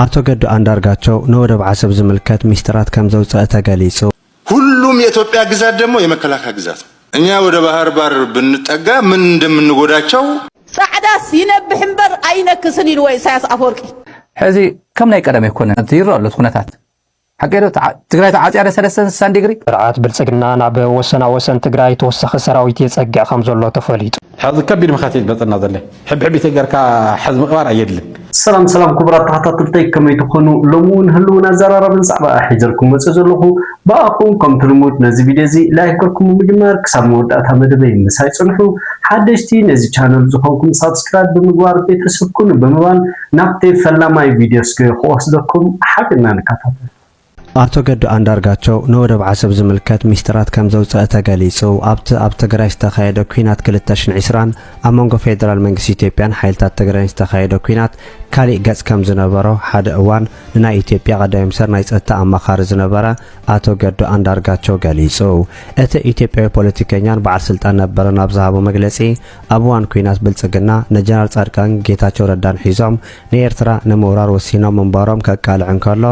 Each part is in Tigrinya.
ኣቶ ገዱ ኣንዳርጋቸው ንወደብ ዓሰብ ዝምልከት ሚስጢራት ከምዘውጸእ ተገሊጹ። ሁሉም የኢትዮጵያ ግዛት ደግሞ የመከላከያ ግዛት ነው። እኛ ወደ ባህር ባር ብንጠጋ ምን እንደምንጎዳቸው። ጻዕዳስ ይነብሕ እምበር ኣይነክስን ኢልዎ ኢሳያስ ኣፈወርቂ። ሕዚ ከም ናይ ቀደም ኣይኮነን እቲ ይረኣ ኣሎ እቲ ኩነታት። ሓቀይ ዶ ትግራይ ተዓፅያ ዶ ሰለስተ ስሳን ዲግሪ? ስርዓት ብልፅግና ናብ ወሰና ወሰን ትግራይ ተወሳኺ ሰራዊት የፀግዕ ከምዘሎ ተፈሊጡ። ሕዚ ከቢድ መኸት እዩ ዝመፀና ዘሎ ሕብሕቢተይ ገርካ ሕዚ ምቅባር ኣየድልን። ሰላም ሰላም ኩቡራት ተከታተልተይ ከመይ ትኮኑ ሎሚ ውን ህልውን ኣዛራራብን ዛዕባ ሒዘልኩም መጽእ ዘለኩ ብኣኩም ከምቲ ልሙድ ነዚ ቪድዮ እዚ ላይክ ገርኩም ብምጅማር ክሳብ መወዳእታ መደበይ ምሳይ ጽንሑ ሓደሽቲ ነዚ ቻነል ዝኮንኩም ሳብስክራይብ ብምግባር ቤተሰብ ኩኑ ብምባል ናብቲ ፈላማይ ቪድዮ እስከ ክወስደኩም ሓቢርና ንከታተል። ኣቶ ገዱ ኣንዳርጋቸው ንወደብ ዓሰብ ዝምልከት ሚስጢራት ከምዘውጸእ ተገሊጹ። ኣብቲ ኣብ ትግራይ ዝተኻየደ ኲናት ክልተ ሽሕን ዕስራን ኣብ መንጎ ፌደራል መንግስቲ ኢትዮጵያን ሓይልታት ትግራይን ዝተኻየደ ኲናት ካሊእ ገጽ ከምዝነበሮ ሓደ እዋን ንናይ ኢትዮጵያ ቀዳማይ ሚኒስተር ናይ ጸጥታ ኣማኻሪ ዝነበረ ኣቶ ገዱ ኣንዳርጋቸው ገሊጹ። እቲ ኢትዮጵያዊ ፖለቲከኛን በዓል ስልጣን ነበረን ኣብ ዝሃቦ መግለጺ ኣብ እዋን ኩናት ብልጽግና ንጀነራል ጻድቃን ጌታቸው ረዳን ሒዞም ንኤርትራ ንምውራር ወሲኖም ምንባሮም ከቃልዕ እንከሎ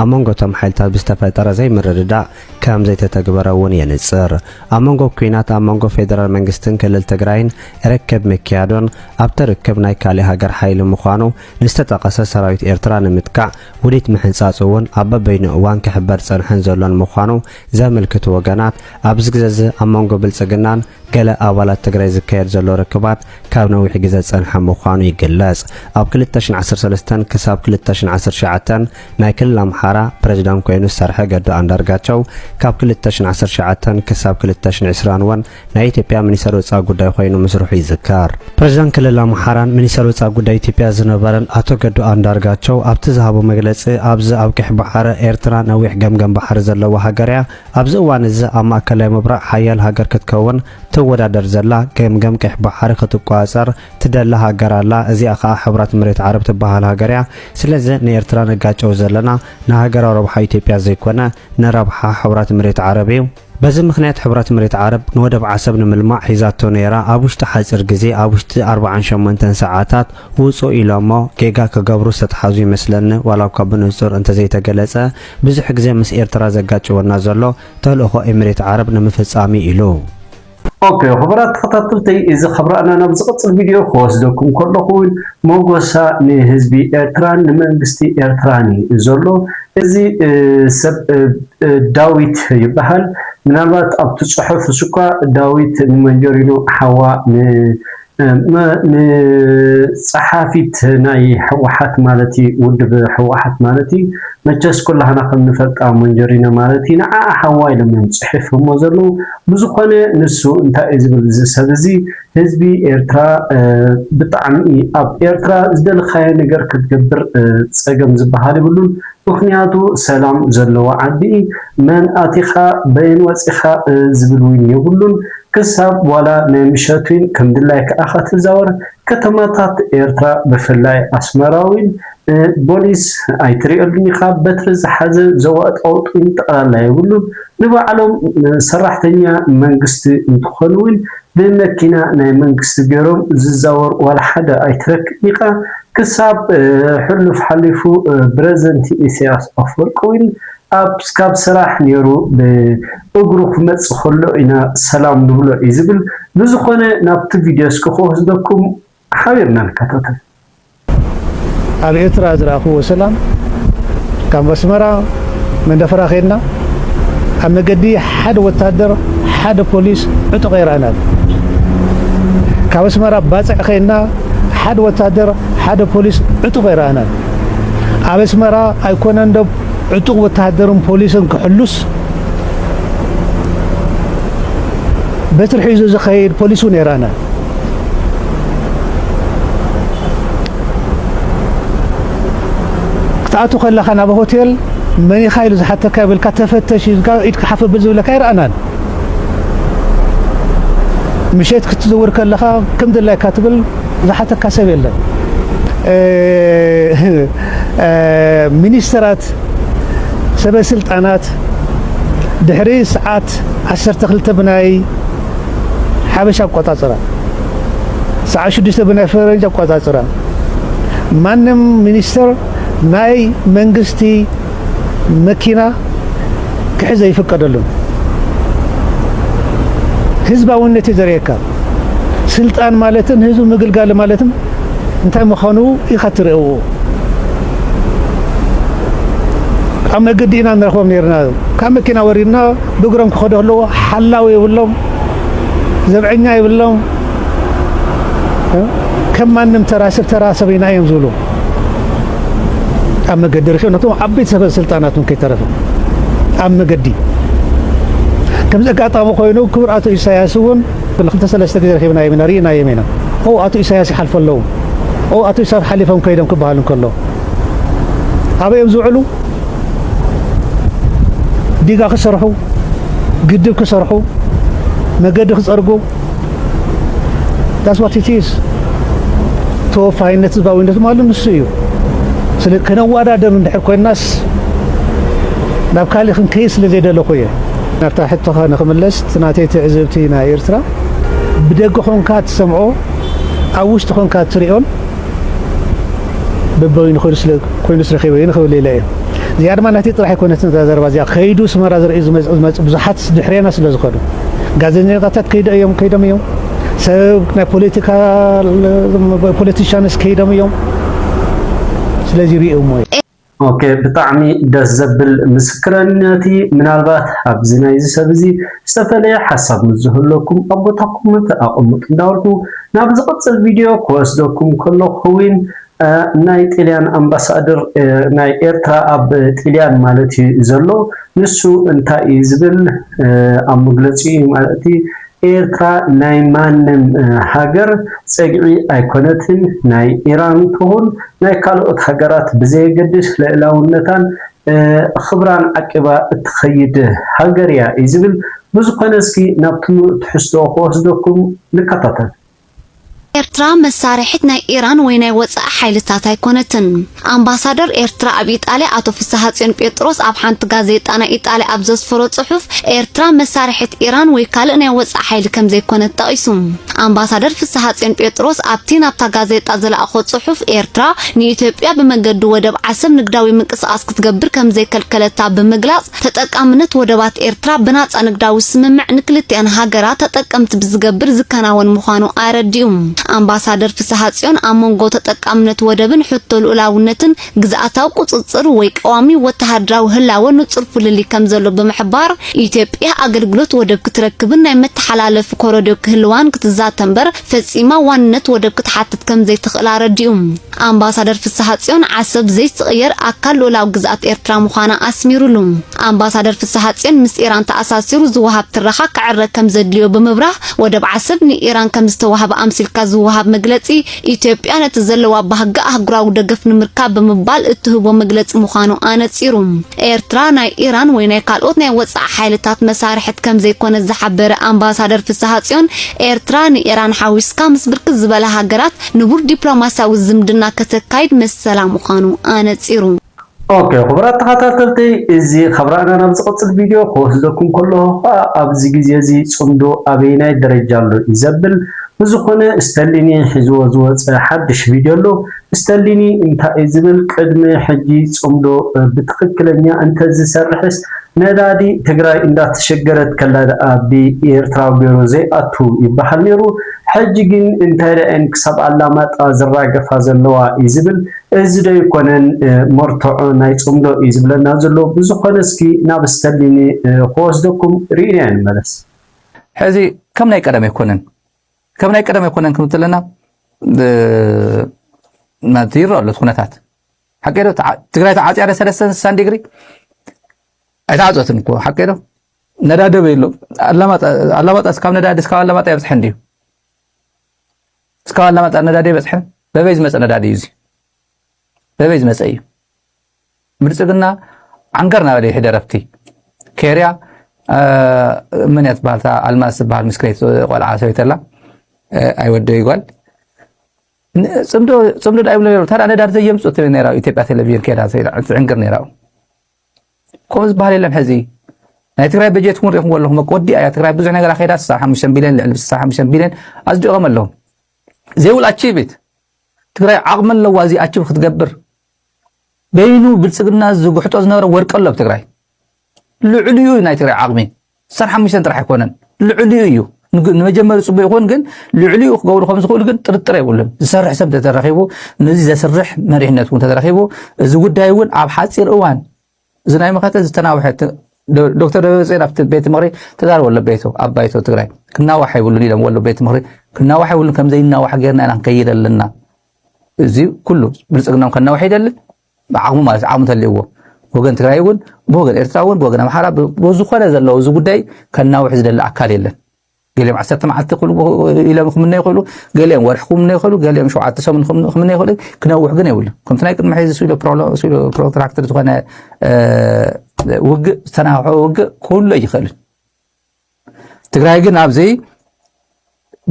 ኣብ መንጎ እቶም ሓይልታት ብዝተፈጠረ ዘይምርድዳእ ከም ዘይተተግበረ እውን የንጽር። ኣብ መንጎ ኩናት ኣብ መንጎ ፌደራል መንግስትን ክልል ትግራይን ርክብ ምክያዱን ኣብቲ ርክብ ናይ ካሊእ ሃገር ሓይሊ ምዃኑ ንዝተጠቐሰ ሰራዊት ኤርትራ ንምጥቃዕ ውዲት ምሕንጻጹ እውን ኣብ በበይኑ እዋን ክሕበር ዝጸንሐን ዘሎን ምዃኑ ዘምልክቱ ወገናት ኣብዚ ግዘ እዚ ኣብ መንጎ ብልጽግናን ገለ ኣባላት ትግራይ ዝካየድ ዘሎ ርክባት ካብ ነዊሕ ግዘ ዝፀንሐ ምዃኑ ይግለፅ። ኣብ ክልተ ሽሕን ዓሰርተ ሰለስተን ክሳብ ክልተ ሽሕን ዓሰርተ ትሽዓተን ናይ ክልል ኣምሓራ ፕረዚዳንት ኮይኑ ዝሰርሐ ገዱ ኣንዳርጋቸው ካብ ክልተ ሽሕን ዓሰርተ ትሽዓተን ክሳብ ክልተ ሽሕን ዕስራን እውን ናይ ኢትዮጵያ ሚኒስተር ወፃኢ ጉዳይ ኮይኑ ምስርሑ ይዝከር። ፕረዚዳንት ክልል ኣምሓራን ሚኒስተር ወፃኢ ጉዳይ ኢትዮጵያ ዝነበረን ኣቶ ገዱ ኣንዳርጋቸው ኣብቲ ዝሃቦ መግለፂ ኣብዚ ኣብ ቀይሕ ባሕሪ ኤርትራ ነዊሕ ገምገም ባሕሪ ዘለዋ ሃገር እያ፣ ኣብዚ እዋን እዚ ኣብ ማእከላይ ምብራቕ ሓያል ሃገር ክትከውን ትወዳደር ዘላ፣ ገምገም ቀይሕ ባሕሪ ክትቆጻጸር ትደሊ ሃገር ኣላ፣ እዚኣ ከኣ ሕብራት መሬት ዓረብ ትበሃል ሃገር እያ። ስለዚ ንኤርትራ ነጋጨው ዘለና ንሃገራዊ ረብሓ ኢትዮጵያ ዘይኮነ ንረብሓ ሕብራት መሬት ዓረብ እዩ። በዚ ምኽንያት ሕብራት መሬት ዓረብ ንወደብ ዓሰብ ንምልማዕ ሒዛቶ ነይራ ኣብ ውሽጢ ሓጺር ግዜ ኣብ ውሽጢ ኣርብዓን ሸሞንተን ሰዓታት ውጹ ኢሎሞ ጌጋ ክገብሩ ዝተትሓዙ ይመስለኒ ዋላኳ ብንጹር እንተዘይተገለጸ ብዙሕ ግዜ ምስ ኤርትራ ዘጋጭወና ዘሎ ተልእኾ ኤምሬት ዓረብ ንምፍጻም'ዩ ኢሉ። ኦኬ ኹቡራት ተኸታተልተይ እዚ ኻብ ራእና ናብ ዝቕጽል ቪድዮ ኽወስደኩም ከለኹ ውን ሞጎሳ ንህዝቢ ኤርትራን ንመንግስቲ ኤርትራን ዩ ዘሎ እዚ ሰብ ዳዊት ይብሃል ምናልባት ኣብቲ ጽሑፍስ እኳ ዳዊት ንመንጆሪኖ ሓዋ ን ንጸሓፊት ናይ ህወሓት ማለት እዩ ውድብ ህወሓት ማለት እዩ መቸስ ኩላህና ከም ንፈልጣ ሞንጀሪኖ ማለት እዩ ንዓኣ ሓዋ ኢሎም እዮም ጽሒፎሞ ዘለዉ ብዝኾነ ንሱ እንታይ እዩ ዝብል እዚ ሰብ እዚ ህዝቢ ኤርትራ ብጣዕሚ ኣብ ኤርትራ ዝደለኻዮ ነገር ክትገብር ጸገም ዝበሃል ይብሉን ምኽንያቱ ሰላም ዘለዎ ዓዲ መን ኣቲኻ በየን ወጺኻ ዝብል እውን የብሉን ክሳብ ዋላ ናይ ምሸት'ውን ከም ድላይ ከኣ ከትዛወር ከተማታት ኤርትራ ብፍላይ ኣስመራ ውን ፖሊስ ኣይትሪኤሉን ኢኻ በትሪ ዝሓዘ ዘዋጥውጥን ጠቕላላ የብሉን ንባዕሎም ሰራሕተኛ መንግስቲ እንትኾኑ ውን ብመኪና ናይ መንግስቲ ጌሮም ዝዛወር ዋላ ሓደ ኣይትረክብን ኢኻ ክሳብ ሕሉፍ ሓሊፉ ብረዘንቲ ኢሰያስ ኣፍወርቂ ውን ኣብ ካብ ስራሕ ኔሩ ብ እግሩ ክመጽእ ከሎ ኢና ሰላም ንብሎ እዩ ዝብል ብዝኮነ ናብቲ ቪድዮ እስኪ ክወስደኩም ሓቢርና ንከታተል። ኣብ ኤርትራ ዝረኣኽዎ ሰላም ካብ ኣስመራ መንደፈራ ኬድና ኣብ መገዲ ሓደ ወታደር ሓደ ፖሊስ ዕጡቕ ኣይረኣናን ካብ ኣስመራ ባጽዕ ኬድና ሓደ ወታደር ሓደ ፖሊስ ዕጡቕ ኣይረኣናን ኣብ ኣስመራ ኣይኮነን ዶ ዕጡቕ ወተሃደርን ፖሊስን ክሕሉስ በትሪ ሒዙ ዝኸይድ ፖሊስ እውን የራና። ክትኣቱ ከለኻ ናብ ሆቴል መን ኢኻ ኢሉ ዝሓተካ ይብልካ ተፈተሽ ኢልካ ኢድካ ሓፍ ብል ዝብለካ ይረኣናን ምሸት ክትዝውር ከለኻ ከም ድላይካ ትብል ዝሓተካ ሰብ የለን። ሚኒስተራት ሰበ ስልጣናት ድሕሪ ሰዓት ዓሰርተ ክልተ ብናይ ሓበሻ ኣቆጻጽራ ሰዓት ሽዱሽተ ብናይ ፈረንጅ ኣቆጻጽራ ማንም ሚኒስተር ናይ መንግስቲ መኪና ክሕዝ ኣይፍቀደሉን። ህዝባውነት እዩ ዘርእየካ። ስልጣን ማለትን ህዝቢ ምግልጋል ማለትን እንታይ ምዃኑ ኢኻ እትርእዎ። ኣብ መገዲ ኢና ንረኽቦም ነርና። ካብ መኪና ወሪድና ብእግሮም ክኸዱ ኣለዎ። ሓላዊ የብሎም፣ ዘብዐኛ የብሎም። ከም ማንም ተራ ሰብ ተራ ሰበይና እዮም ዝብሉ። ኣብ መገዲ ርኪ ነቶም ዓበይቲ ሰበ ስልጣናት እውን ከይተረፈ ኣብ መገዲ ከምዚ ኣጋጣሚ ኮይኑ ክቡር ኣቶ ኢሳያስ እውን ክልተ ሰለስተ ግዜ ረኪብናዮም ኢና ርኢናዮም ኢና ኦ ኣቶ ኢሳያስ ይሓልፈ ኣለዉ ኦ ኣቶ ኢሳያስ ሓሊፎም ከይዶም ክበሃል እንከሎ ኣበዮም ዝውዕሉ ዲጋ ክሰርሑ ግድብ ክሰርሑ መገዲ ክፀርጉ ዳስ ዋት ኢት ኢዝ ተወፋይነት ህዝባዊነት ማለት ንሱ እዩ። ስለ ከነዋዳደር እንድሕር ኮይናስ ናብ ካልእ ክንከይድ ስለ ዘይደለኹ እየ። ናብታ ሕቶኻ ንክምለስ እቲ ናተይ ትዕዝብቲ ናይ ኤርትራ ብደገ ኮንካ ትሰምዖ ኣብ ውሽጢ ኮንካ ትሪኦን በበይኑ ኮይኑ ስለ ኮይኑ ስለ ከይበይኑ ክብል ኢለ እየ እዚኣ ድማ ናተይ ጥራሕ ኣይኮነትን እዛ ዘረባ እዚኣ ከይዱ ስመራ ዝርእዩ ዝመጽ ብዙሓት ድሕሬና ስለ ዝኸዱ ጋዜጠኛታት ከይዶ እዮም ከይዶም እዮም ሰብ ናይ ፖለቲካ ፖለቲሻንስ ከይዶም እዮም ስለዚ ሪኦሞ እዩ ኦኬ ብጣዕሚ ደስ ዘብል ምስክረነት እዩ ምናልባት ኣብዚ ናይዚ ሰብ እዚ ዝተፈለየ ሓሳብ ምስ ዝህለኩም ኣብ ቦታ ኮመንት ኣቐምጡ እንዳበልኩ ናብ ዝቕጽል ቪድዮ ክወስደኩም ከለኹ ውን ናይ ጥልያን ኣምባሳድር ናይ ኤርትራ ኣብ ጥልያን ማለት እዩ ዘሎ ንሱ እንታይ እዩ ዝብል ኣብ መግለጺኡ ማለት ኤርትራ ናይ ማንም ሃገር ጸግዒ ኣይኮነትን ናይ ኢራን ትኹን ናይ ካልኦት ሃገራት ብዘየገድስ ልእላውነታን ኽብራን ዓቂባ እትኸይድ ሃገር እያ እዩ ዝብል ብዝኾነ እስኪ ናብቲ ሙሉእ ትሕዝቶ ክወስደኩም ንከታተል። ኤርትራ መሳርሒት ናይ ኢራን ወይ ናይ ወጻኢ ሓይልታት ኣይኮነትን። ኣምባሳደር ኤርትራ ኣብ ኢጣልያ ኣቶ ፍስሃጽዮን ጴጥሮስ ኣብ ሓንቲ ጋዜጣ ናይ ኢጣልያ ኣብ ዘስፈሮ ጽሑፍ፣ ኤርትራ መሳርሒት ኢራን ወይ ካልእ ናይ ወጻኢ ሓይሊ ከምዘይኮነት ጠቒሱ። ኣምባሳደር ፍስሃጽዮን ጴጥሮስ ኣብቲ ናብታ ጋዜጣ ዝለኣኾ ጽሑፍ፣ ኤርትራ ንኢትዮጵያ ብመገዲ ወደብ ዓሰብ ንግዳዊ ምንቅስቓስ ክትገብር ከምዘይከልከለታ ብምግላጽ፣ ተጠቃምነት ወደባት ኤርትራ ብናጻ ንግዳዊ ስምምዕ ንክልቲኣን ሃገራት ተጠቀምቲ ብዝገብር ዝከናወን ምዃኑ ኣረዲኡ። ኣምባሳደር ፍስሃጽዮን ኣብ መንጎ ተጠቃምነት ወደብን ሕቶ ልኡላውነትን ግዝኣታዊ ቁጽጽር ወይ ቀዋሚ ወተሃደራዊ ህላወ ንጹር ፍልልይ ከምዘሎ ብምሕባር፣ ኢትዮጵያ ኣገልግሎት ወደብ ክትረክብን ናይ መተሓላለፊ ኮረድዮ ክህልዋን ክትዛተ'ምበር ፈጺማ ዋንነት ወደብ ክትሓትት ከምዘይትኽእል ኣረዲኡ። ኣምባሳደር ፍስሓጽዮን፣ ዓሰብ ዘይትቕየር ኣካል ልኡላዊ ግዝኣት ኤርትራ ምዃና ኣስሚሩሉ። ኣምባሳደር ፍስሓጽዮን፣ ምስ ኢራን ተኣሳሲሩ ዝወሃብ ትረኻ ክዕረ ከም ዘድልዮ ብምብራህ፣ ወደብ ዓሰብ ንኢራን ከም ዝተዋህበ ኣምሲልካ ዝወሃብ መግለጺ፣ ኢትዮጵያ ነቲ ዘለዋ ባህጊ ኣህጉራዊ ደገፍ ንምርካብ ብምባል እትህቦ መግለጺ ምዃኑ ኣነጺሩ። ኤርትራ ናይ ኢራን ወይ ናይ ካልኦት ናይ ወጻኢ ሓይልታት መሳርሕት ከም ዘይኮነት ዝሓበረ ኣምባሳደር ፍስሓጽዮን፣ ኤርትራ ንኢራን ሓዊስካ ምስ ብርክት ዝበላ ሃገራት ንቡር ዲፕሎማስያዊ ዝምድና ከተካይድ መሰላ ምዃኑ ኣነጺሩ። ኦኬ ክቡራት ተኻታተልቲ እዚ ካብራና ናብ ዝቅጽል ቪድዮ ክወስደኩም ከለኩ ከኣ ኣብዚ ግዜ እዚ ጽምዶ ኣበየናይ ደረጃ ኣሎ እዩ ዘብል ብዝኮነ ስተሊኒ ሒዝዎ ዝወጸ ሓድሽ ቪድዮ ኣሎ ስተሊኒ እንታይ እዩ ዝብል ቅድሚ ሕጂ ጽምዶ ብትክክለኛ እንተ ዝሰርሕስ ነዳዲ ትግራይ እንዳተሸገረት ከላ ደኣ ብኤርትራ ገሩ ዘይኣቱ ይበሃል ነሩ ሕጂ ግን እንታይ ርኣየን ክሳብ ኣላማጣ ዝራገፋ ዘለዋ እዩ ዝብል እዚ ዶ ኣይኮነን መርትዖ ናይ ጽምዶ እዩ ዝብለና ዘሎ ብዝኮነ እስኪ ናብ ስተርሊኒ ክወስደኩም ሪኢናዮ ንመለስ። ሕዚ ከም ናይ ቀደም ኣይኮነን ከም ናይ ቀደም ኣይኮነን ክም ትለና ናቲ ይረኣ ኣሎ ኩነታት ሓቂ ዶ ትግራይ ተዓጽያ ደ ሰለስተ ስሳን ዲግሪ ኣይተዓጸትን እኮ ሓቂ ዶ ነዳ ደበይ ኣሎ ኣላማጣ እስካብ ነዳ እስካብ ኣላማጣ የብፅሐን ድዩ እስካብ ኣላማጣ ነዳዲ የበፅሐን በበይ ዝመፀ ነዳዲ እዩ እዚ በበይ ዝመፀ እዩ ብልፅግና ዓንገር ናበለ ይሕደ ረፍቲ ኬርያ መን እያ ትበሃል እታ ኣልማዝ ትበሃል ምስክነይቲ ቆልዓ ሰበይተላ ኣይወደ ይጓል ፅምዶ ዳ ይብሎ ነሩ ታዳ ነዳዲ ዘየምፅእ ነራ ኢትዮጵያ ቴሌቪዥን ከዳ ትዕንግር ነራ ከምኡ ዝበሃል የለን ሕዚ ናይ ትግራይ በጀት እውን ሪኢኹምዎ ኣለኹም ወዲኣ እያ ትግራይ ብዙሕ ነገር ኣኼዳ 65 ቢልዮን ልዕሊ 65 ቢልዮን ኣፅዲቖም ኣለዉ ዘይብሉ ኣቺቪት ትግራይ ዓቕሚ ኣለዋ እዚ ኣቺቭ ክትገብር በይኑ ብልፅግና ዝጉሕጦ ዝነበረ ወርቂ ኣሎ ኣብ ትግራይ ልዕሊኡ ናይ ትግራይ ዓቕሚ ስሳን ሓሙሽተን ጥራሕ ኣይኮነን ልዕሊኡ እዩ ንመጀመሪ ፅቡቅ ይኹን ግን ልዕሊኡ ክገብሩ ከም ዝኽእሉ ግን ጥርጥር የብሉን ዝሰርሕ ሰብ ተተረኺቡ ነዚ ዘስርሕ መሪሕነት እውን ተተረኺቡ እዚ ጉዳይ እውን ኣብ ሓፂር እዋን እዚ ናይ መኸተ ዝተናውሐ ዶክተር ደብረፅዮን ኣብቲ ቤት ምክሪ ተዛረበ ኣሎ ቤቱ ኣብ ባይቶ ትግራይ ክናዋሕ ይብሉን ኢሎም ወሎ ቤት ምክሪ ክናዋሕ ይብሉን ከምዘይናዋሕ ጌርና ኢና ንከይድ ኣለና እዚ ኩሉ ብልፅግናም ከናዋሕ ይደሊ ብዓቕሙ ማለት ዓቕሚ ተልእዎ ብወገን ትግራይ እውን ብወገን ኤርትራ እውን ብወገን ኣምሓራ ብዝኾነ ዘለዎ እዚ ጉዳይ ከናውሕ ዝደሊ ኣካል የለን። ገሊኦም ዓሰርተ መዓልቲ ኢሎም ክምነ ይኽእሉ፣ ገሊኦም ወርሒ ክምነ ይኽእሉ፣ ገሊኦም ሸውዓተ ሰሙን ክምነ ይኽእሉ፣ ክነውሕ ግን የብሉ። ከምቲ ናይ ቅድሚ ሕዚ ስኢሎ ፕሮትራክትር ዝኾነ ውግእ ዝተናውሐ ውግእ ክህሉ ኣይኽእልን። ትግራይ ግን ኣብዚ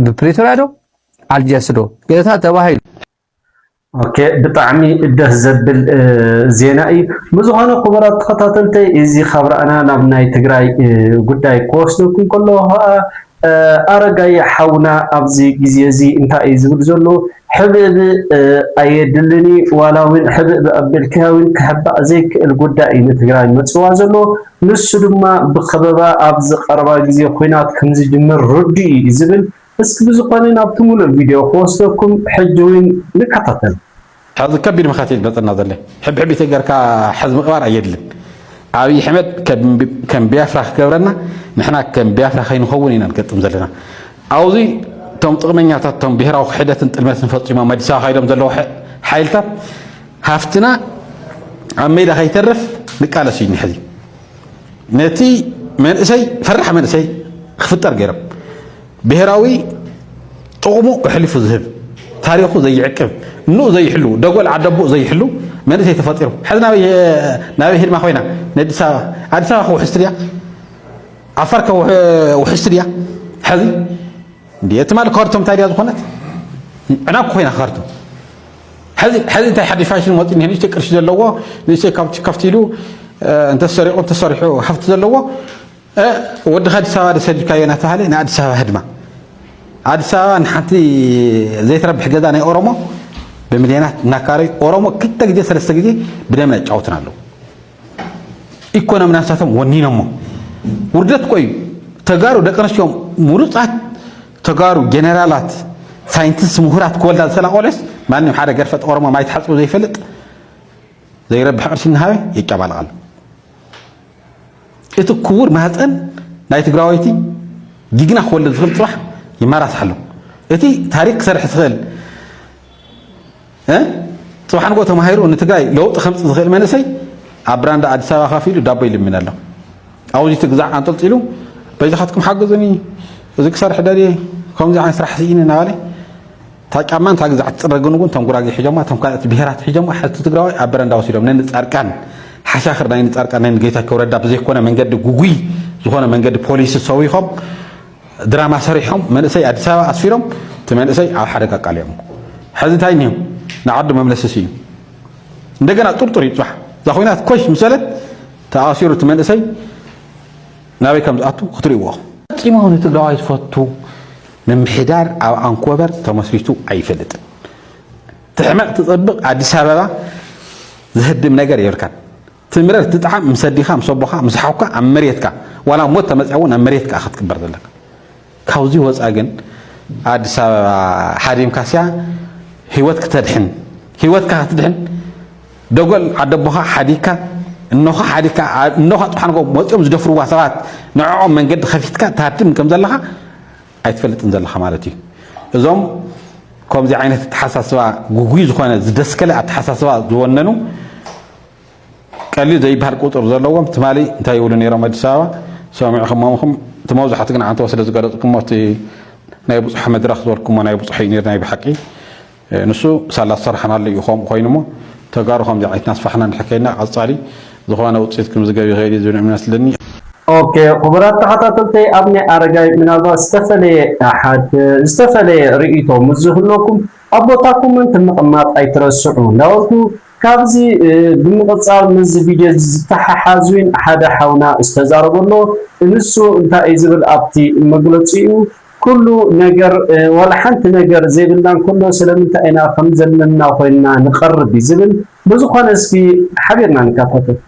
ብፕሪቶሪያ ዶ ኣልጀርስ ዶ ገታ ተባሂሉ ኦኬ ብጣዕሚ ደስ ዘብል ዜና እዩ ብዝኾነ ክቡራት ተኸታተልተይ እዚ ካብ ረኣና ናብ ናይ ትግራይ ጉዳይ ክወስደኩም ከለኹ ከዓ ኣረጋይ ሓውና ኣብዚ ግዜ እዚ እንታይ እዩ ዝብል ዘሎ ሕብእብ ኣየድልን እዩ ዋላ እውን ሕብእብ ኣቢልካ እውን ክሕባእ ዘይክእል ጉዳይ እዩ ንትግራይ መፅዋ ዘሎ ንሱ ድማ ብከበባ ኣብዚ ቀረባ ግዜ ኩናት ከምዝጅምር ርዱእ እዩ ዝብል እስኪ ብዝኾነ ናብቲ ሙሉእ ቪድዮ ክወስደኩም ሕጂ ውን ንከታተል። ሐዚ ከቢድ መኸት እዩ ዝመፀና ዘሎ ሕብሕብ ኢተ ገርካ ሐዚ ምቅባር ኣየድልን ኣብይ ሕመድ ከም ቢያፍራ ክገብረና ንሕና ከም ቢያፍራ ከይንኸውን ኢና ንገጥም ዘለና ኣውዙይ እቶም ጥቅመኛታት እቶም ብሄራዊ ክሕደትን ጥልመትን ፈፂሞም ኣዲስ ኣበባ ካይዶም ዘለዉ ሓይልታት ሃፍትና ኣብ ሜዳ ከይተርፍ ንቃለስ እዩ ሕዚ ነቲ መንእሰይ ፈራሕ መንእሰይ ክፍጠር ገይሮም ብሄራዊ ጥቕሙ ኣሕሊፉ ዝህብ ታሪኹ ዘይዕቅብ እንኡ ዘይሕሉ ደጎል ዓደቦኡ ዘይሕሉ መንእሰይ ተፈጢሩ ሕዚ ናበይ ሂድማ ኮይና ንኣዲስ ኣበባ ኣዲስ ኣበባ ክውሕስቲ ድያ ዓፋር ውሕስቲ ድያ ሕዚ እቲ ማለት ካርቶም እንታይ ድያ ዝኾነት ዕናኩ ኮይና ካርቶም ሐዚ ሐዚ እንታይ ሓድሽ ፋሽን ወፂ እኒሀ ንእሽተይ ቅርሺ ዘለዎ ንእሽተይ ካብቲ ከፍቲ ኢሉ እንተሰሪቑ እንተሰሪሑ ሃፍቲ ዘለዎ ወድኻ ኣዲስ ኣበባ ደሰዲድካዮ እናተባሃለ ንኣዲስ ኣበባ ህድማ ኣዲስ ኣበባ ንሓንቲ ዘይትረብሕ ገዛ ናይ ኦሮሞ ብምልዮናት እናካረዩ ኦሮሞ ክልተ ግዜ ሰለስተ ግዜ ብደምና ይጫወቱና ኣለዉ ኢኮኖምና ንሳቶም ወኒኖሞ ውርደት እኮ እዩ ተጋሩ ደቂ ኣንስትዮ ምሩፃት ተጋሩ ጀነራላት ሳይንቲስት ምሁራት ክወልዳ ዝኽእላ ቆልዑስ ማንም ሓደ ገርፈ ጠቆሮሞ ማይ ተሓፅቡ ዘይፈልጥ ዘይረብሕ ቅርሲ እናሃበ የጨባልቕ ኣሎ እቲ ክቡር ማህፀን ናይ ትግራወይቲ ጅግና ክወልድ ዝኽእል ፅባሕ ይመራሳሕ ኣሎ እቲ ታሪክ ክሰርሕ ዝኽእል ፅባሕ ንግሆ ተማሂሩ ንትግራይ ለውጢ ከምፅ ዝኽእል መንእሰይ ኣብ ብራንዳ ኣዲስ ኣበባ ካፍ ኢሉ ዳቦ ይልምን ኣሎ ኣውዚ ትግዛዕ ኣንጠልጢሉ በይዛኻትኩም ሓግዙኒ እዚ ክሰርሕ ደልየ ከምዚ ዓይነት ስራሕ ስኢኒ እናበለ እታ ጫማ እንታይ ግዛዕ ትፅረግን እውን እቶም ጉራጌ ሒጆማ እቶም ካልኦት ብሄራት ሒጆማ ሕቲ ትግራዋይ ኣብ በረንዳ ወሲዶም ነን ፃርቃን ሓሻኽር ናይ ንፃርቃን ናይ ንጌታቸው ረዳ ብዘይኮነ መንገዲ ጉጉይ ዝኾነ መንገዲ ፖሊሲ ሰዊኾም ድራማ ሰሪሖም መንእሰይ ኣዲስ ኣበባ ኣስፊሮም እቲ መንእሰይ ኣብ ሓደጋ ኣቃሊዖሞ ሐዚ እንታይ እኒሆ ንዓዱ መምለሲ ስኢኑ እንደገና ጥርጡር እዩ ፅባሕ እዛ ኮይናት ኮሽ ምስ በለት ተኣሲሩ እቲ መንእሰይ ናበይ ከም ዝኣቱ ክትርእይዎ ኢኹም ፈፂሙ ንትግራዋይ ዝፈቱ ምምሕዳር ኣብ ኣንኮበር ተመስሪቱ ኣይፈልጥን ትሕመቕ ትፀብቕ ኣዲስ ኣበባ ዝህድም ነገር የብልካን ትምረር ትጥዓም ምስ ኣዲኻ ምስ ኣቦኻ ምስ ሓውካ ኣብ መሬትካ ዋላ ሞት ተመጽያ እውን ኣብ መሬትካ እያ ክትቅበር ዘለካ ካብዚ ወጻ ግን ኣዲስ ኣበባ ሓዲምካስያ ህይወት ክተድሕን ህይወትካ ክትድሕን ደጎል ዓደቦኻ ሓዲግካ እነኻ ሓዲግካ እነኻ ጥሓንጎ ወፂኦም ዝደፍርዋ ሰባት ንዕኦም መንገዲ ከፊትካ ታድም ከም ዘለኻ ኣይትፈልጥን ዘለኻ ማለት እዩ እዞም ከምዚ ዓይነት ኣተሓሳስባ ጉጉይ ዝኾነ ዝደስከለ ኣተሓሳስባ ዝወነኑ ቀሊል ዘይብሃል ቁፅር ዘለዎም ትማሊ እንታይ ይብሉ ነይሮም ኣዲስ ኣበባ ሰሚዕኹሞም ኢኹም እቲ መብዛሕቱ ግን ዓንተቦ ስለ ዝገለፅኩሞ እቲ ናይ ብፁሕ መድረኽ ዝበልኩሞ ናይ ብፁሕ እዩ ነይሩ ናይ ብሓቂ ንሱ ሳላ ዝሰራሕናሉ እዩ ከምኡ ኮይኑ እሞ ተጋሩ ከምዚ ዓይነት ናስፋሕና ንሕከይና ቀፃሊ ዝኾነ ውፅኢት ክምዝገብ ይኽእል እዩ ዝብል እምነት ኣለኒ ኦኬ ክቡራት ተኸታተልተይ ኣብ ናይ ኣረጋይ ምናልባት ዝተፈለየ ኣሓት ዝተፈለየ ርእይቶ ምስ ዝህለኩም ኣብ ቦታኩምን ምቕማጥ ኣይትረስዑ እንዳበልኩ ካብዚ ብምቅጻል ምስዚ ቪድዮ እዚ ዝተሓሓዝ ውን ሓደ ሓውና ዝተዛረቦ ኣሎ እንሱ እንታይ እዩ ዝብል ኣብቲ መግለጺኡ ኩሉ ነገር ዋላ ሓንቲ ነገር ዘይብልና እንከሎ ስለምንታይ ኢና ከምዘለና ኮይንና ንቀርብ እዩ ዝብል ብዝኮነ እስኪ ሓቢርና ንካታተል።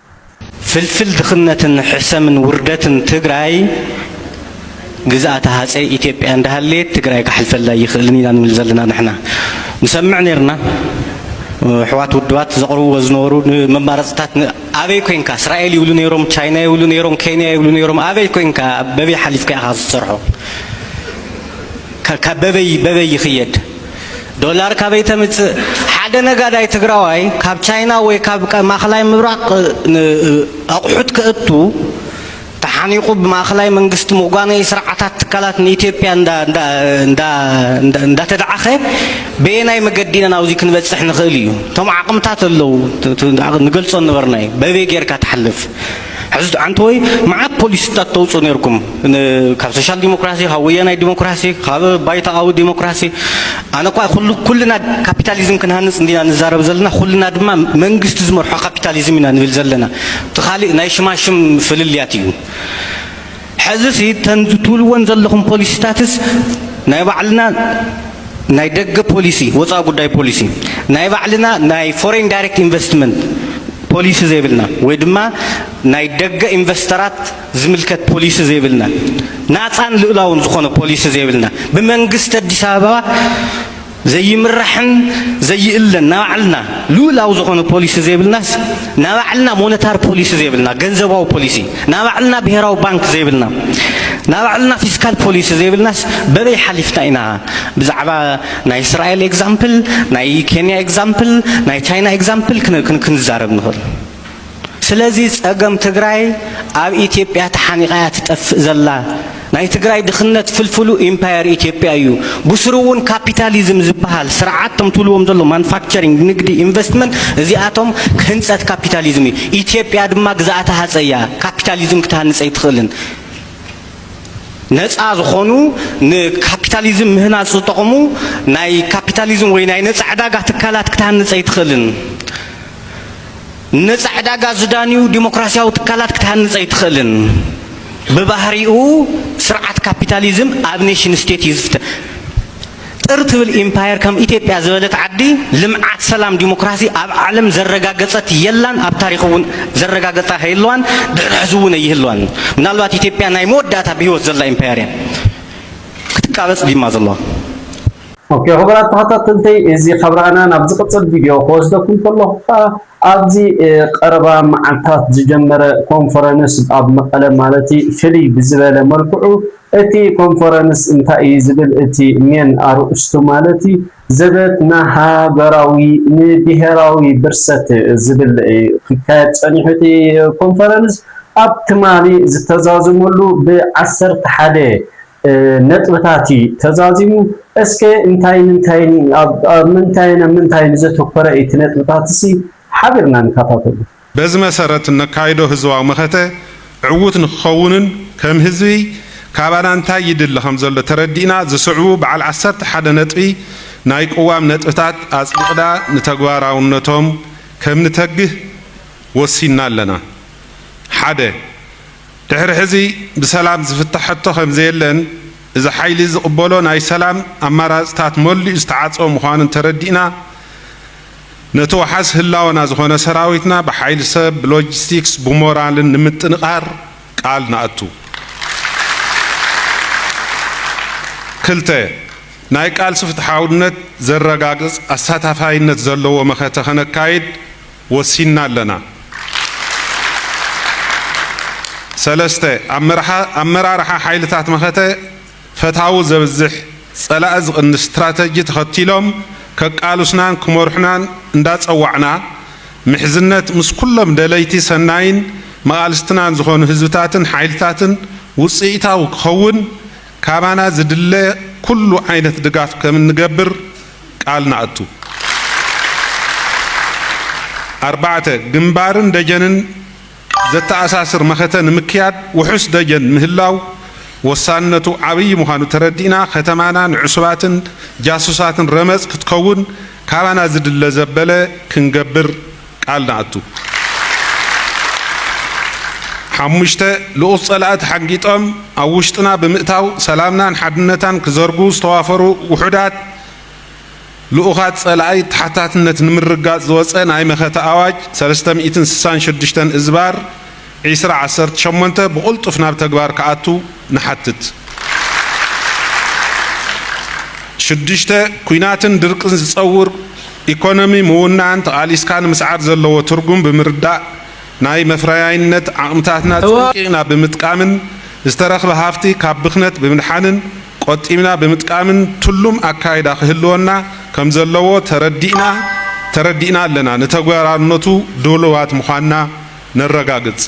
ፍልፍል ድኽነትን ሕሰምን ውርደትን ትግራይ ግዝኣተ ሃፀይ ኢትዮጵያ እንዳሃለየት ትግራይ ካሕልፈላ ኣይኽእልን ኢና ንብል ዘለና ንሕና ንሰምዕ ነይርና ኣሕዋት ውድባት ዘቕርብዎ ዝነበሩ ንመማረፅታት ኣበይ ኮንካ እስራኤል ይብሉ ነይሮም ቻይና ይብሉ ነይሮም ኬንያ ይብሉ ነይሮም ኣበይ ኮንካ በበይ ሓሊፍካ ኢኻ ዝሰርሖ ካብ በበይ በበይ ይኽየድ ዶላር ካበይ ተምጽእ? ሓደ ነጋዳይ ትግራዋይ ካብ ቻይና ወይ ካብ ማእኸላይ ምብራቕ ኣቑሑት ከእቱ ተሓኒቑ ብማእኸላይ መንግስቲ ምጓነዪ ስርዓታት ትካላት ንኢትዮጵያ እንዳተድዓኸ በየናይ መገዲ ኢና ናብዚ ክንበጽሕ ንኽእል እዩ? እቶም ዓቕምታት ኣለዉ ንገልጾ ዝነበርና እዩ። በበይ ጌርካ ትሓልፍ? ሕዚ ዓንተወይ መዓት ፖሊሲታት ተውፅኡ ነይርኩም ካብ ሶሻል ዲሞክራሲ ካብ ወያናይ ዲሞክራሲ ካብ ባይታኣዊ ዲሞክራሲ ኣነ እኳ ኩልና ካፒታሊዝም ክንሃንፅ እንዲና ንዛረብ ዘለና ኩልና ድማ መንግስቲ ዝመርሖ ካፒታሊዝም ኢና ንብል ዘለና እቲ ካሊእ ናይ ሽማሽም ፍልልያት እዩ ሐዝሲ እተን ዝትብልወን ዘለኹም ፖሊሲታትስ ናይ ባዕልና ናይ ደገ ፖሊሲ ወፃኢ ጉዳይ ፖሊሲ ናይ ባዕልና ናይ ፎሬን ዳይሬክት ኢንቨስትመንት ፖሊሲ ዘይብልና ወይ ድማ ናይ ደገ ኢንቨስተራት ዝምልከት ፖሊሲ ዘይብልና ናፃን ልኡላውን ዝኾነ ፖሊሲ ዘይብልና ብመንግስቲ ኣዲስ ኣበባ ዘይምራሕን ዘይእለን ናባዕልና ልኡላዊ ዝኾነ ፖሊሲ ዘይብልናስ ናባዕልና ሞነታር ፖሊሲ ዘይብልና ገንዘባዊ ፖሊሲ ናባዕልና ብሄራዊ ባንክ ዘይብልና ናባዕልና ፊስካል ፖሊሲ ዘይብልናስ በበይ ሓሊፍና ኢና ብዛዕባ ናይ እስራኤል ኤግዛምፕል ናይ ኬንያ ኤግዛምፕል ናይ ቻይና ኤግዛምፕል ክንዛረብ ንኽእል ስለዚ ጸገም ትግራይ ኣብ ኢትዮጵያ ተሓኒቓ እያ ትጠፍእ ዘላ። ናይ ትግራይ ድኽነት ፍልፍሉ ኢምፓየር ኢትዮጵያ እዩ። ብስሩ እውን ካፒታሊዝም ዝበሃል ስርዓት እቶም ትብልዎም ዘሎ ማኑፋክቸሪንግ፣ ንግዲ፣ ኢንቨስትመንት እዚኣቶም ህንጸት ካፒታሊዝም እዩ። ኢትዮጵያ ድማ ግዝኣተ ሃጸይ እያ ካፒታሊዝም ክትሃንጽ ኣይትኽእልን። ነጻ ዝኾኑ ንካፒታሊዝም ምህናጽ ዝጠቕሙ ናይ ካፒታሊዝም ወይ ናይ ነጻ ዕዳጋ ትካላት ክትሃንጽ ኣይትኽእልን። ንነጻ ዕዳጋ ዝዳንዩ ዲሞክራሲያዊ ትካላት ክትሃንጽ ኣይትኽእልን። ብባህሪኡ ስርዓት ካፒታሊዝም ኣብ ኔሽን ስቴት እዩ ዝፍተ ጥር ትብል ኢምፓየር ከም ኢትዮጵያ ዝበለት ዓዲ ልምዓት፣ ሰላም፣ ዲሞክራሲ ኣብ ዓለም ዘረጋገጸት የላን፣ ኣብ ታሪኽ እውን ዘረጋገጻ ከይህልዋን ድሕሪ ሕዚ እውን ኣይህልዋን። ምናልባት ኢትዮጵያ ናይ መወዳእታ ብህይወት ዘላ ኢምፓየር እያ ክትቃበጽ ዲማ ዘለዋ። ኦኬ ክቡራት ተኸታተልተይ እዚ ካብ ረኣና ናብ ዝቕጽል ቪድዮ ክወስደኩም ከለኹ ከዓ ኣብዚ ቀረባ መዓልታት ዝጀመረ ኮንፈረንስ ኣብ መቐለ ማለት ፍልይ ብዝበለ መልክዑ እቲ ኮንፈረንስ እንታይ እዩ ዝብል እቲ ሜን ኣርእስቱ ማለት ዘበት ንሃገራዊ ንብሄራዊ ብርሰት ዝብል ክካየድ ጸኒሑ እቲ ኮንፈረንስ ኣብ ትማሊ ዝተዛዘመሉ ብዓሰርተ ሓደ ነጥብታት እዩ ተዛዚሙ። እስከ እንታይን እንታይን እዩ፣ ኣብ ምንታይን ኣብ ምንታይን ዘተኮረ እዩ እቲ ነጥብታትሲ ሓቢርና ንከታተሎ። በዚ መሰረት እነካይዶ ህዝባዊ መኸተ ዕዉት ንክኸውንን ከም ህዝቢ ካባና እንታይ ይድለ ከምዘሎ ተረዲእና ዝስዕቡ በዓል ዓሰርተ ሓደ ነጥቢ ናይ ቅዋም ነጥብታት ኣፅዲቕዳ ንተግባራውነቶም ከምንተግህ ወሲንና ኣለና። ሓደ። ድሕሪ ሕዚ ብሰላም ዝፍታሕ ሕቶ ከምዘየለን እዚ ሓይሊ ዝቕበሎ ናይ ሰላም ኣማራፅታት መሊኡ ዝተዓፀወ ምዃኑ እንተረዲእና ነቲ ዋሓስ ህላወና ዝኾነ ሰራዊትና ብሓይሊ ሰብ፣ ብሎጂስቲክስ፣ ብሞራልን ንምጥንቓር ቃል ንኣቱ። ክልተ፣ ናይ ቃልሲ ፍትሓውነት ዘረጋግፅ ኣሳታፋይነት ዘለዎ መኸተ ከነካይድ፣ ወሲንና ኣለና። ሰለስተ፣ ኣመራርሓ ሓይልታት መኸተ ፈታዊ ዘብዝሕ፣ ፀላኢ ዝቕንስ ስትራተጂ ተኸቲሎም ከቃሉስናን ክመርሑናን እንዳፀዋዕና ምሕዝነት ምስ ኩሎም ደለይቲ ሰናይን መቓልስትናን ዝኾኑ ህዝብታትን ሓይልታትን ውፅኢታዊ ክኸውን ካባና ዝድለ ኩሉ ዓይነት ድጋፍ ከምንገብር ቃል ንኣቱ። ኣርባዕተ፣ ግንባርን ደጀንን ዘተኣሳስር መኸተ ንምክያድ ውሑስ ደጀን ምህላው ወሳንነቱ ዓብዪ ምዃኑ ተረዲእና ከተማና ንዕሱባትን ጃሱሳትን ረመፅ ክትከውን ካባና ዝድለ ዘበለ ክንገብር ቃል ንኣቱ። ሓሙሽተ፣ ልኡኽ ጸላኢ ተሓንጊጦም ኣብ ውሽጥና ብምእታው ሰላምናን ሓድነታን ክዘርጉ ዝተዋፈሩ ውሑዳት ልኡኻት ጸላኢ ተሓታትነት ንምርግጋጽ ዝወጸ ናይ መኸተ ኣዋጅ ሰለስተ ሚእትን ስሳን ሽዱሽተን እዝባር ዕስራ ዓሰርተ ሸሞንተ ብቕልጡፍ ናብ ተግባር ክኣቱ ንሓትት። ሽዱሽተ ኲናትን ድርቅን ዝጸውር ኢኮኖሚ ምውናን ተቓሊስካ ንምስዓር ዘለዎ ትርጉም ብምርዳእ ናይ መፍረያይነት ዓቕምታትና ጸንቂቕና ብምጥቃምን ዝተረኽበ ሃፍቲ ካብ ብኽነት ብምድሓንን ቆጢብና ብምጥቃምን ትሉም ኣካይዳ ክህልወና ከምዘለዎ ተረዲእና ኣለና ንተግባራውነቱ ድሉዋት ምዃንና ነረጋግጽ።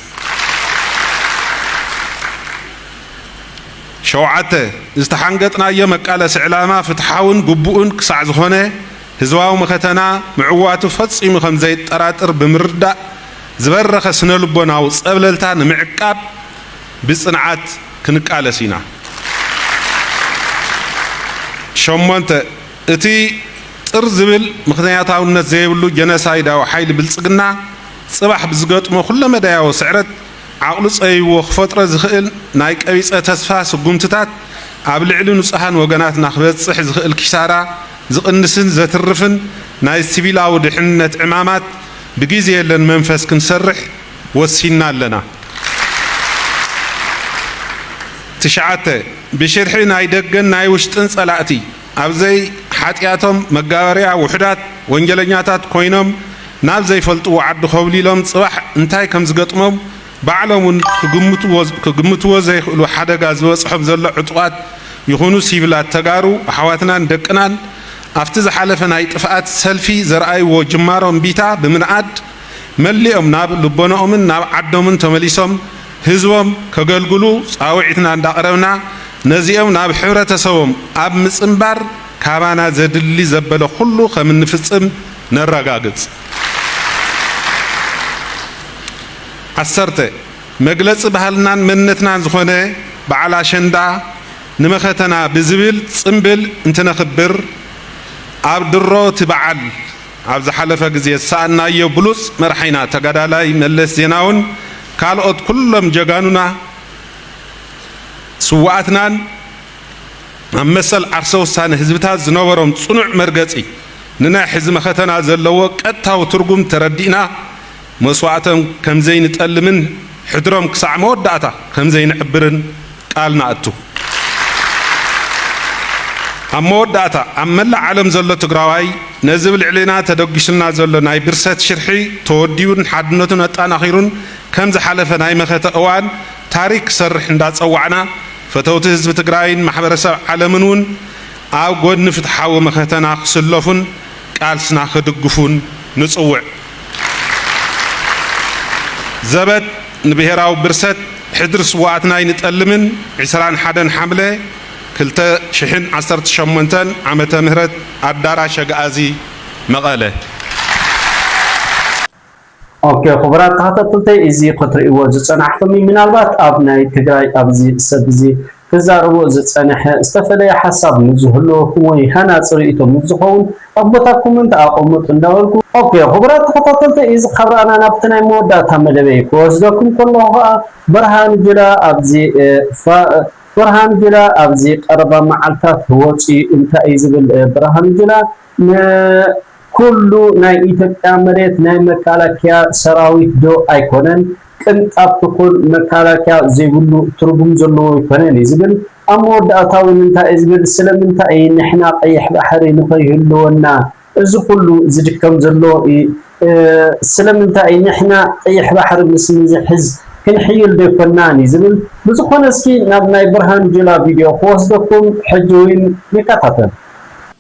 ሸውዓተ፣ ዝተሓንገጥናዮ መቃለሲ ዕላማ ፍትሓውን ግቡእን ክሳዕ ዝኾነ፣ ህዝባዊ መኸተና ምዕዋቱ ፈጺሙ ከም ዘየጠራጥር ብምርዳእ፣ ዝበረኸ ስነ-ልቦናዊ ጸብለልታ ንምዕቃብ ብጽንዓት ክንቃለስ ኢና። ሸሞንተ፣ እቲ ጥር ዝብል ምኽንያታውነት ዘይብሉ ጀኖሳይዳዊ ሓይሊ ብልጽግና፣ ጽባሕ ብዝገጥሞ ኩለመዳያዊ ስዕረት ዓቕሉ ጸቢብዎ ክፈጥሮ ዝኽእል ናይ ቀቢጸ ተስፋ ስጉምትታት ኣብ ልዕሊ ንጹሃን ወገናትና ክበጽሕ ዝኽእል ኪሳራ ዝቕንስን ዘትርፍን ናይ ሲቪላዊ ድሕንነት ዕማማት ብጊዜ የለን መንፈስ ክንሰርሕ ወሲንና ኣለና። ትሽዓተ፣ ብሽርሒ ናይ ደገን ናይ ውሽጥን ጸላእቲ፣ ኣብ ዘይ ሓጥያቶም መጋበርያ ውሑዳት ወንጀለኛታት ኮይኖም ናብ ዘይፈልጥዎ ዓዲ ኮብሊሎም ጽባሕ እንታይ ከም ዝገጥሞም ባዕሎም ውን ክግምትዎ ዘይክእሉ ሓደጋ ዝበጽሖም ዘሎ ዕጡቓት ይኹኑ ሲቪላት ተጋሩ ኣሕዋትናን ደቅናን ኣብቲ ዝሓለፈ ናይ ጥፍኣት ሰልፊ ዘርኣይዎ ጅማሮ እምቢታ ብምንኣድ መሊኦም ናብ ልቦነኦምን ናብ ዓዶምን ተመሊሶም ህዝቦም ከገልግሉ ፃውዒትና እንዳቕረብና ነዚኦም ናብ ሕብረተሰቦም ኣብ ምፅምባር ካባና ዘድሊ ዘበለ ኹሉ ከምንፍፅም ነረጋግፅ። ዓሰርተ፣ መግለፂ ባህልናን መንነትናን ዝኾነ በዓል ኣሸንዳ ንመኸተና ብዝብል ፅምብል እንትነኽብር ኣብ ድሮ እቲ በዓል፣ ኣብ ዝሓለፈ ግዜ ዝሰኣንናዮ ብሉጽ መርሓይና ተጋዳላይ መለስ ዜናውን ካልኦት ኩሎም ጀጋኑና ስውኣትናን ኣብ መሰል ዓርሰ ውሳነ ህዝብታት ዝነበሮም ጽኑዕ መርገጺ ንናይ ሕዚ መኸተና ዘለዎ ቀጥታዊ ትርጉም ተረዲእና መስዋእቶም ከም ዘይንጠልምን ሕድሮም ክሳዕ መወዳእታ ከም ዘይንዕብርን ቃል ንኣቱ። ኣብ መወዳእታ፣ ኣብ መላእ ዓለም ዘሎ ትግራዋይ ነዚ ብ ልዕሌና ተደጒሱልና ዘሎ ናይ ብርሰት ሽርሒ ተወዲቡን ሓድነቱን ኣጣናኺሩን ከም ዝሓለፈ ናይ መኸተ እዋን ታሪክ ክሰርሕ እንዳጸዋዕና ፈተውቲ ህዝቢ ትግራይን ማሕበረሰብ ዓለምን እውን ኣብ ጎድኒ ፍትሓዊ መኸተና ክስለፉን ቃልስና ክድግፉን ንጽውዕ። ዘበት ንብሄራዊ ብርሰት ሕድሪ ስውኣትና ኣይንጠልምን ዕስራን ሓደን ሓምለ ክልተ ሽሕን ዓሰርተ ሸሞንተን ዓመተ ምህረት ኣዳራሽ ኣግኣዚ መቐለ። ኦኬ ክቡራት ተኸታተልተይ እዚ ክትርእይዎ ዝጸናሕኹም እዩ ምናልባት ኣብ ናይ ትግራይ ኣብዚ ሰብ እዚ ክዛረቦ ዝጸነሐ ዝተፈለየ ሓሳብ ምስ ዝህልወኩም ወይ ሃናጺ ርእይቶ ምስ ዝኸውን ኣብ ቦታ ኮመንት ኣቐሙጥ እንዳበልኩ፣ ኦኬ ኹቡራት ተኸታተልተይ እዚ ካብ ራእና ናብቲ ናይ መወዳእታ መደበይ ክወስደኩም ከለኹ ኸኣ ብርሃን ጁላ ኣብዚ ፋእ ብርሃን ጁላ ኣብዚ ቀረባ መዓልታት ወጽዩ እንታይ እዩ ዝብል ብርሃን ጁላ ንኩሉ ናይ ኢትዮጵያ መሬት ናይ መካላኪያ ሰራዊት ዶ ኣይኮነን ቅንጣብ ትኩን መካላኪያ ዘይብሉ ትርጉም ዘለዎ ኣይኮነን እዩ ዝብል ኣብ መወዳእታ ውን እንታይ እዩ ዝብል ስለምንታይ እዩ ንሕና ቀይሕ ባሕሪ ንከይህልወና እዚ ኩሉ ዝድከም ዘሎ ስለምንታይ ንሕና ቀይሕ ባሕሪ ምስ ንዝሕዝ ክንሕይል ዶ ኣይኮናን እዩ ዝብል ብዝኮነ እስኪ ናብ ናይ ብርሃኑ ጁላ ቪድዮ ክወስደኩም ሕጂ ውን ንከታተል።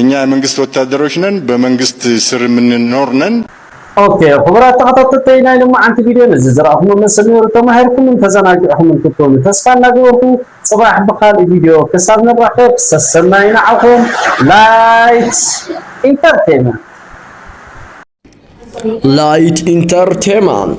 እኛ የመንግስት ወታደሮች ነን በመንግስት ስር የምንኖር ነን። ኦኬ ኹቡራት ተኸታተልተይ ናይ ሎማዓንቲ ቪድዮ ነዚ ዝረኣኹሞ መስል ነይሩ ተማሂርኩምን ተዘናጊዕኹምን ክትኮኑ ተስፋ እናገበርኩ ፅባሕ ብኻሊእ ቪድዮ ክሳብ ንራኸብ ሰሰናዩ ንዓኹም ላይት ኢንተርቴመንት። Light Entertainment